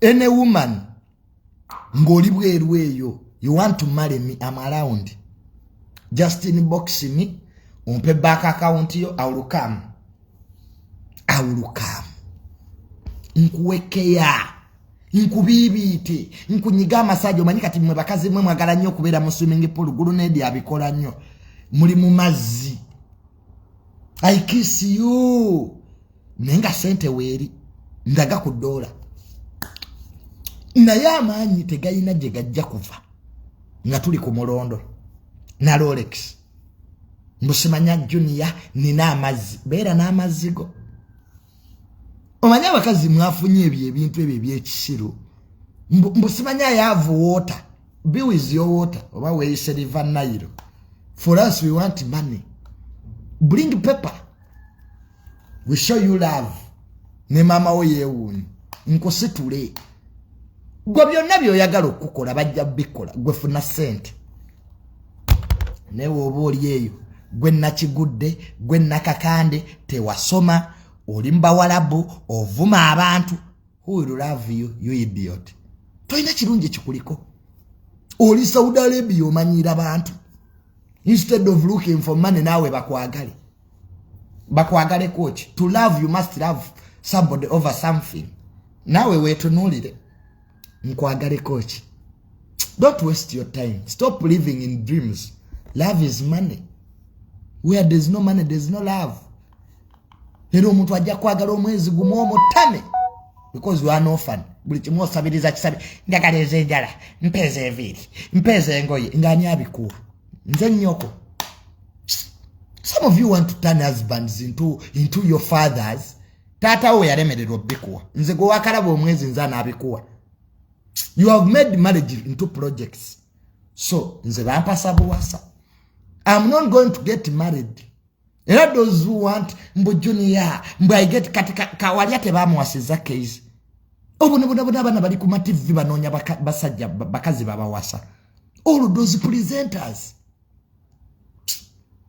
any woman ng'oli bweru eyo you want to marry me am around just in box me ompe back account yo awulukamu awulukamu nkuwekeya nkubiibiite nkunyiga amasajja omanyi kati mwe bakazi mwe mwagala nnyo okubeera mu swimming pool gulu nedi abikola nnyo muli mu mazzi i kiss you naye nga sente weeri ndaga ku doola naye amaanyi tegalina gye gajja kuva nga tuli ku mulondo na rolex mbusimanya junia nina amazzi beera n'amazzi go omanyi abakazi mwafunye ebyo ebintu ebyo ebyekisiru mbu simanyi ayaavu water be with your water oba weyise river nile for us we want money bring paper we show you love ne maama wo yeewuunyi nkusitule gwe byonna byoyagala okukola bajja bikola gwe funa sente naye woba oli eyo gwe nakigudde gwe nakakande tewasoma oli mubawalabu ovuma abantu huilulavuyuidiot tolina kirungi ekikuliko oli saudi arabia omanyira bantu instead of looking for money naawe bakwagale bakwagalekoki to love you must love somebody over something naawe weetunuulire nkwagaleko ki don't waste your time stop living in dreams love is money where there's no money there's no love era omuntu ajja kwagala omwezi gumu omutame because you are no fun buli kimu osabiriza kisabi njagala ezenjala mpeeza eviiri mpeeza engoye ngaani abikuwa nze nnyoko some of you want to turn husbands into, into your fathers taata wo yalemererwa obikuwa nze gwe wakalaba omwezi nze anabikuwa you have made marriage into projects so nze bampasa buwasa am not going to get married era those who want mbu junior mbu i get kati kawalya tebamuwasiza case obunabonabona abaana bali ku mativi banoonya basajja bakazi babawasa all those presenters